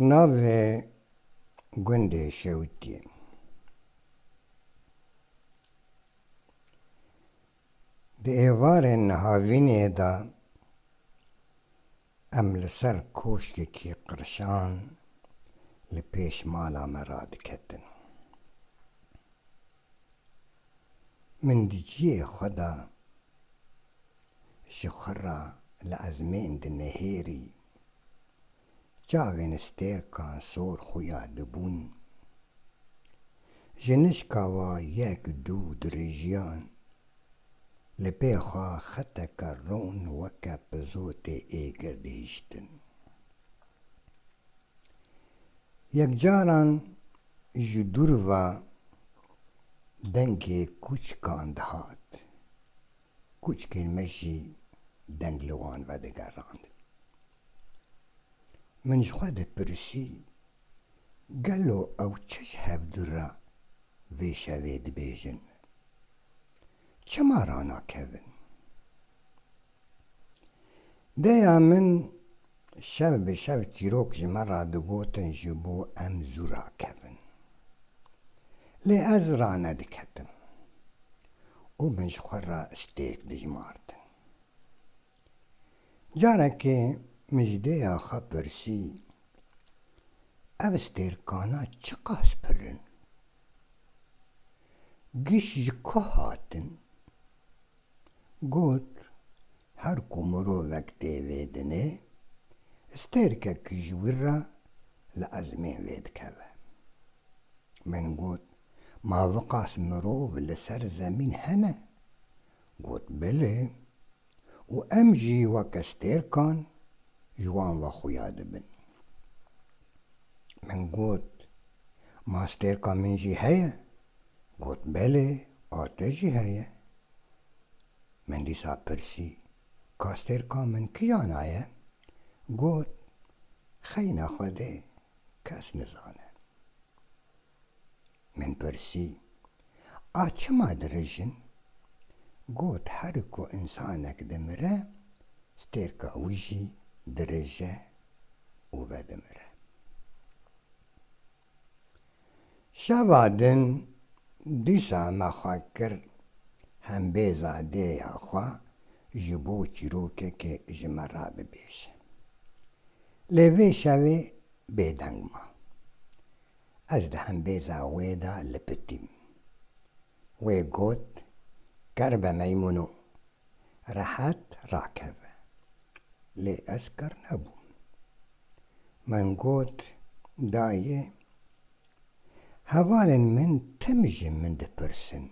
Navê gundê Şewitî. Di êvarên nihavînê de em li ser koşkekî qirşan li pêş mala me radiketin. Min di ciyê xwe de Ji xwe re li ezmên dinihêrî. Çavên stêrkan sor xuya dibûn. Ji nişka wa yek dû dirijiyan. Li pê xwe xeteke ron weke pizotê êgir dihiştin. Yekcaran ji dûr ve dengê kûçikan dihat. Kûçikên me jî deng li wan ve digerand. Min ji xwe dipirsî, Gelo ew çi ji hevdû re vê şevê dibêjin? Çima ranakevin? Dêya min Şev bi şev çîrok ji me re digotin ji bo em zû rakevin. Lê ez ranediketim û min ji xwe re stêrk dijmartin. Carekê min ji dêya xwe pirsî, Ev stêrkana çiqas pir in? Giş ji ku hatin? Got, Her ku mirovek tê vê dinê, stêrkek ji wir re li ezmên vê dikeve. Min got, Ma viqas mirov li ser zemîn hene? Got, Bilê. Û em jî weke stêrkan ji wan ve xuya dibin. Min got, Ma stêrka min jî heye? Got, Belê, ate jî heye. Min dîsa pirsî, Kastêrka min kiyana ye? Got, Xeyna Xwedê, kes nizane. Min pirsî, A çima dirij in? Got, Herik ku însanek dimire, stêrka wî jî dirije û vedimire. Şeva din dîsa me xwe kir hembêza dêya xwe ji bo çîrokekê ji me re bibêje. Lê vê şevê bêdeng ma. Ez di hembêza wê de lipitîm. Wê got, Ker be meymûno, rehet rakeve. Lê ez ker nebûm. Min got, Dayê, hevalên min tim ji min dipirsin,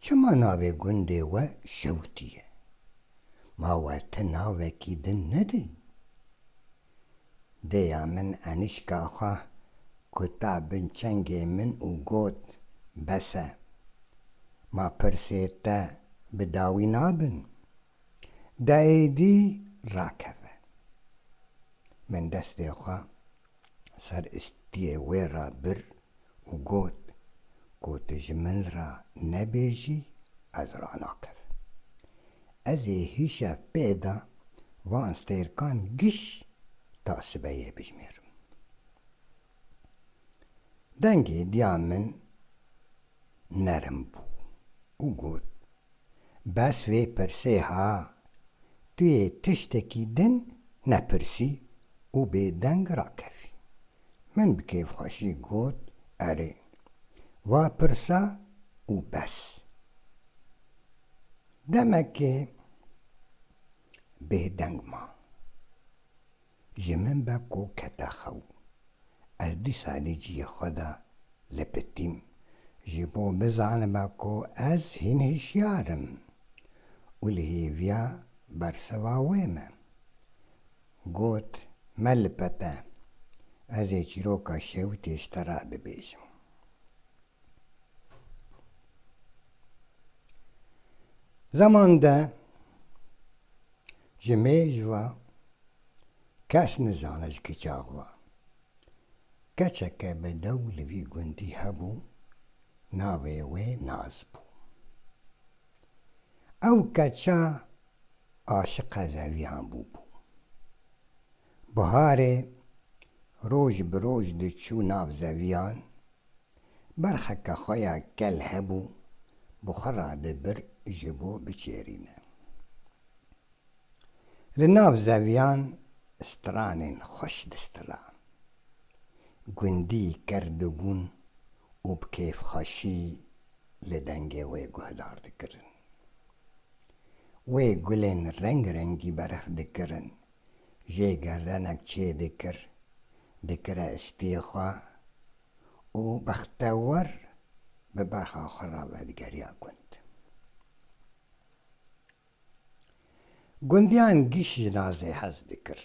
Çima navê gundê we Şewtî ye? Ma we ti navekî din nedî? dêya min Enîşka xwe kuta bin çengê min û got, Bes e. Ma pirsê te bi dawî nabin? De êdî rakeve. Min destê xwe ser istiyê wê re bir û got, Ku tu ji min re nebêjî ez ranakim. Ez ê hîşev pê de van stêrkan giş ta sibeyê bijimêrim. Dengê diya min nerm bû û got, Bes vê pirsê ha, tu yê tiştekî din nepirsî û bêdeng rakevî. Min bi kêfxweşî got, Erê, va pirsa û bes. Demekê bêdeng ma. Ji min be ku kete xew. Ez dîsa li ciyê xwe de lipitîm ji bo bizanibe ku ez hîn hişyar im û li hêviya bersiva wê me. Got, Me lipete, ez ê çîroka şewitê ji te re bibêjim. Zeman de ji mêj ve kes nizane ji kiçax ve. Keçeke bi dew li vî gundî hebû, navê wê Naz bû. Ew keça aşiqa zeviyan bûbû. Biharê roj bi roj diçû nav zeviyan, berxeke xwe ya kel hebû bi xwe ra dibir ji bo biçêrîne. Li nav zeviyan stranên xweş distila. Gundî ker dibûn û bi kêfxweşî li dengê wê guhdar dikirin. Wê gulên reng rengî berx dikirin. Jê gerdenek çê dikir, dikire istiyê xwe û bextewar bi berxa xwe re vedigeriya gund. Gundiyan giş ji nazê hez dikir.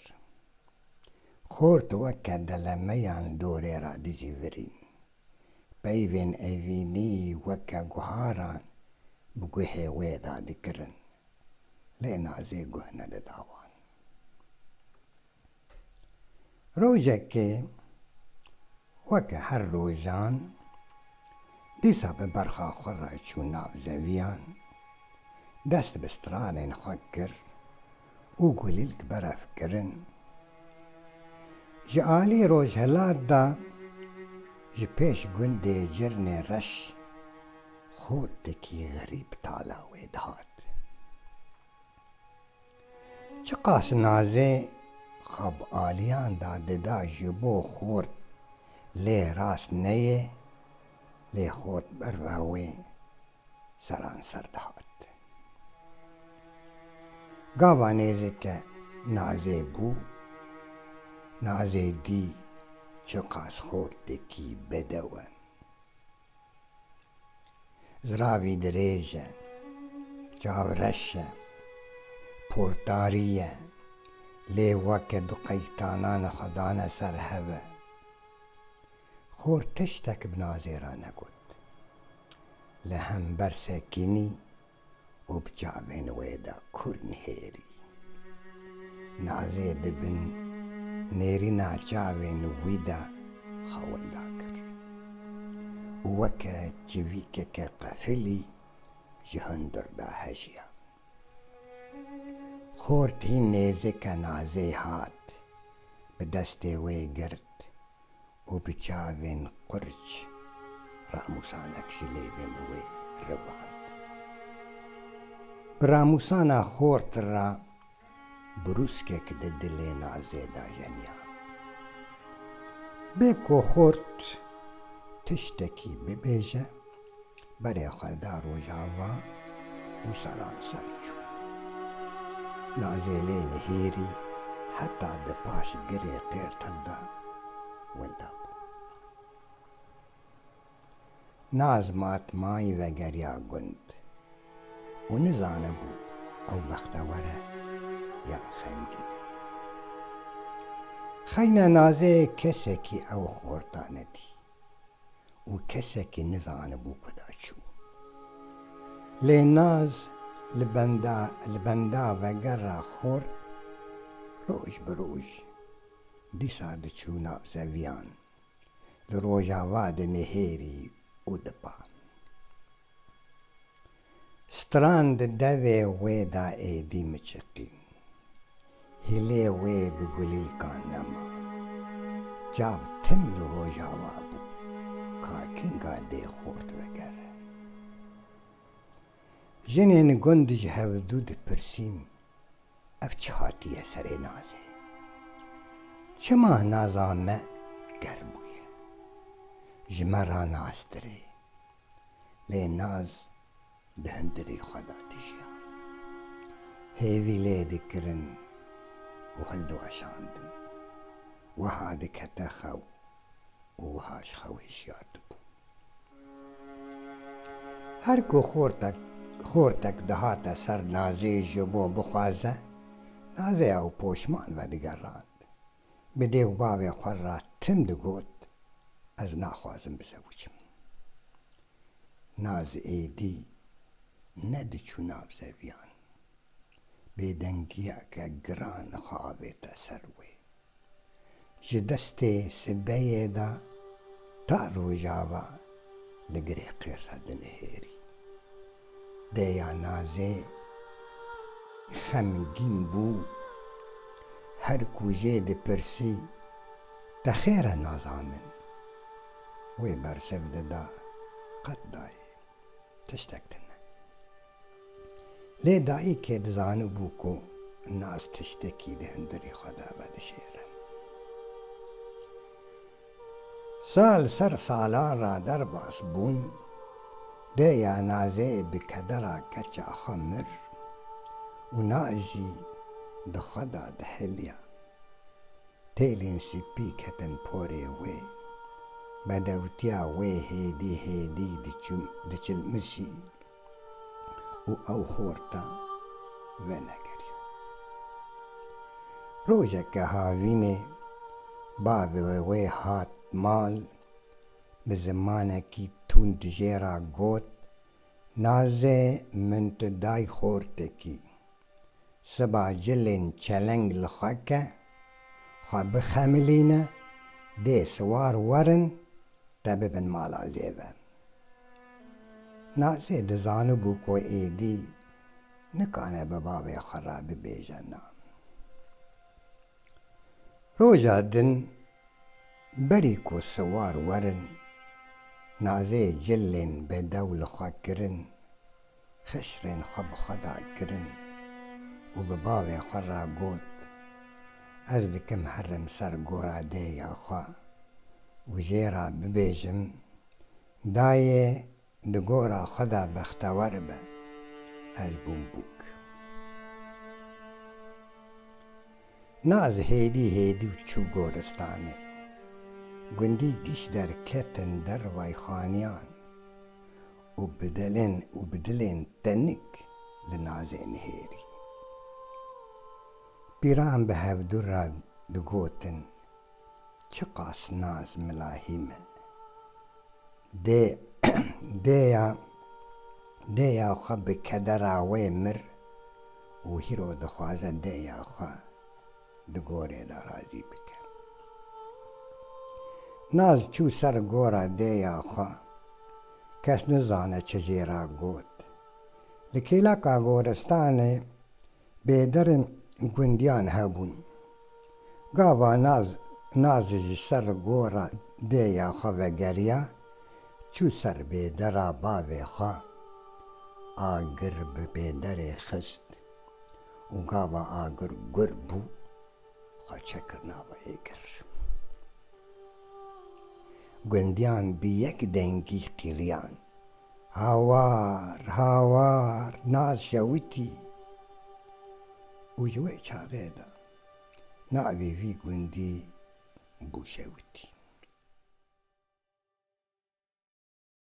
Xort weke delemeyan li dorê re dijî virîn. Peyvên evînî weke guharan bi guhê wê de dikirin. Lê nazê guh nedida wan. Rojekê weke her rojan dîsa bi berxa xwe re çû nav zeviyan, dest bi stranên xwe kir û gulîlk berev kirin. Ji alî rojhilat de ji pêş gundê Cirnê Reş xortekî xerîb tala wê dihat. Çiqas nazê xab aliyan da dida ji bo xort lê rast neyê lê xort bi rewê seranser dihat. Gava nêzike nazê bû, nazê dî çiqas xortekî bedew e. Ziravî dirêj e, çav reş e, portarî ye, lê weke du qeytanan xwe dane ser hev e. Xor tiştek bi nazêra negot. Li hember sekînî û bi çavên wê de kur nihêrî. Nazê di bin nêrîna çavên wî de xwe winda kir û weke çivîkeke qefilî ji hundir de hejiya. Xort hîn nêzike Nazê hat, bi destê wê girt û bi çavên qurc ramûsanek ji lêvên wê rivand. Bi ramûsana xort re brûskek di dilê Nazê da jeniyan. Bê ku xort tiştekî bibêje, Berê xwe da Rojava û seranser çû. Nazêlê nihêrî heta di paş girê Qêrtil de winda bû. Naz matmayî vegeriya gund û nizanibû ew bextewer e yan xemgîn e. Xeyna Nazê kesekî ew xorta nedî. û kesekî nizanibû ku da çi bû. Lê Naz li benda li benda vegera xort roj bi roj. Dîsa diçû nav zeviyan. Li rojava dinihêrî û dipa. Stran di devê wê de êdî miçiqî. Hîlê wê bi gulîlkan nema. Çav tim li Rojava bû, ka kinga dê xort vegere. Jinên gund ji hevdu dipirsîn, Ev çi hatiye serê Nazê? Çima Naza me ger bûye? Ji me ra nastir ê. lê Naz di hundirê xwe de dijiya. Hêvî lê dikirin û hildiweşandin. Wiha dikete xew û wiha ji xew hişyar dibû. Her ku xortek xortek dihate ser Nazê ji bo bixwaze, Nazê ew poşman vedigerand. Bi dê û bavê xwe re tim digot, Ez naxwazim bizewicim. Naz êdî ne diçû nav zeviyan. Bêdengiyeke giran dixavête ser wê. Ji destê sibeyê de ta rojava li girê qêrxa dinihêrî. Deyanazê xemgîn bû, her ku jê dipirsî te xêr e nazanin. Wê bersiv dida qet dayê tiştek tine. Lê dayikê dizanibû ku nas tiştekî di hundirê xwe de vedişêrin. Sal ser salan ra derbas bûn, dê ya Nazê bi kedera keça xwe mir û na jî di xwe da dihêliya. Têlên sipî ketin porê wê. Bedewtiya wê hêdî hêdî diçilmişî. û ew xorta venegeriya. Rojeke havînê bavê wê hat mal, bi zimanekî tund jê re got, Nazê min tu day xortekî. Siba cilên çeleng li xwe ke, xwe bixemilîne, dê siwar werin te bibin mala zêve. Nasê dizanibû ku êdî nikane bi bavê xwe re bibêje na. Roja din berî ku siwar werin, Nasê cilên bedew li xwe kirin, Xişrên xwe bi xwe da kirin û bi bavê xwe re got, Ez dikim herim ser gora dêya xwe û jê re bibêjim, Dayê di gora xwe de bextewer be, ez bûm bûk. Naz hêdî hêdî û çû goristanê. Gundî giş der ketin dervay xaniyan. Û bi delên û bi dilên tenik li nazê nihêrî. Pîran bi hevdu re digotin, Çiqas naz mila hî me. Dê dêya dêya xwe bi kedera wê mir û hîro dixwaze dêya xwe. di gorê de razî bike. Naz çû ser gora dêya xwe. Kes nizane çi jê re got. Li kêleka goristanê bêderin gundiyan hebûn. Gava Naz Naz ji ser gora dêya xwe vegeriya çû ser bêdera bavê xwe. Agir bi bêderê xist. Û gava agir gur bû, xwe çekir nava êgir. Gundiyan bi yek dengî qîriyan, Hawar! Hawar! Naz şewitî! Û ji wê çaxê de navê vî gundî bû Şewitî.